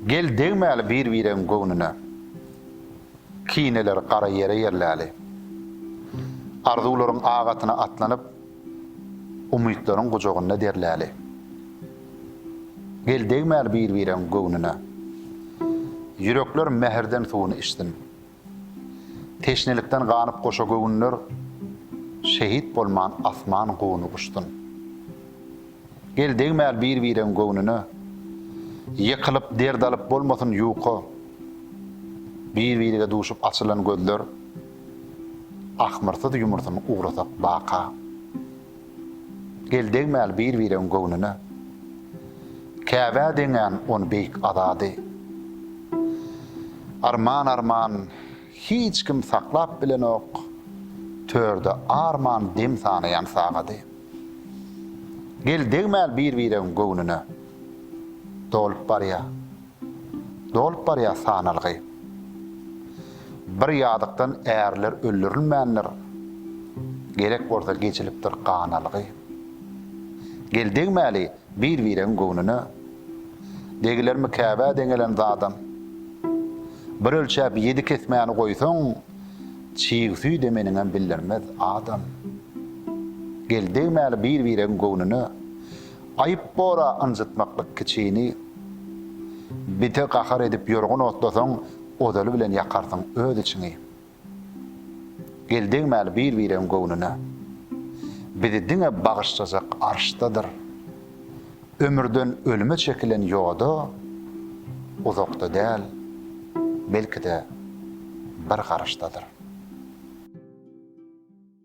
Gel degmäli bir-biregiň göwnüne, Kineleri gara ýere ýerläli. Arzuwlaryň ak atyna atlanyp, Umytlaryň gujagynda derläli. Gel degmäli bir-biregiň göwnüne, Ýürekler mähirden suwuny içsin. Teşnelikden ganyp goşa göwünler Şehit bolman asman guny guşsun. Gel degmäl bir bireň göwnüne Ýykylyp derd alyp bolmasyn ýuka Bir birege duşup açylan gözler Ahmyrsyz ýumursun ugrasak baka. Gel degmäli bir-biregiň göwnüne. Käbä deňän on beýik azady. Arman arman hiç kim saklap bilenok, Törde arman dem sanaýan sagady. Gel degmäli bir-biregiň göwnüne. Dolup barýa. Dolup barýar sanalgy. Bir ýadykdan ärler öldürilmändir, Gerek bolsa geçilipdir gan algy. Gel degmäli bir-biregiň göwnüne, Degilermi Käbä deňelen zadam? Bir ölçäp ýedi kesmäni goýsaň, Çig süýde meniňem bildirmez adam. Gel degmäli bir-biregiň göwnüne, Aýyp bor-a ynjytmaklyk kiçini. Bite gahar edip ýorgun otlasaň, ozaly bilen ýakarsyň öz içiňi. Gel degmäli bir-biregiň göwnüne. Bizi diňe bagyşlajak arşdadyr. Ömürden ölüme çekilen ýoda uzakda däl, belki-de, bir garyşdadyr.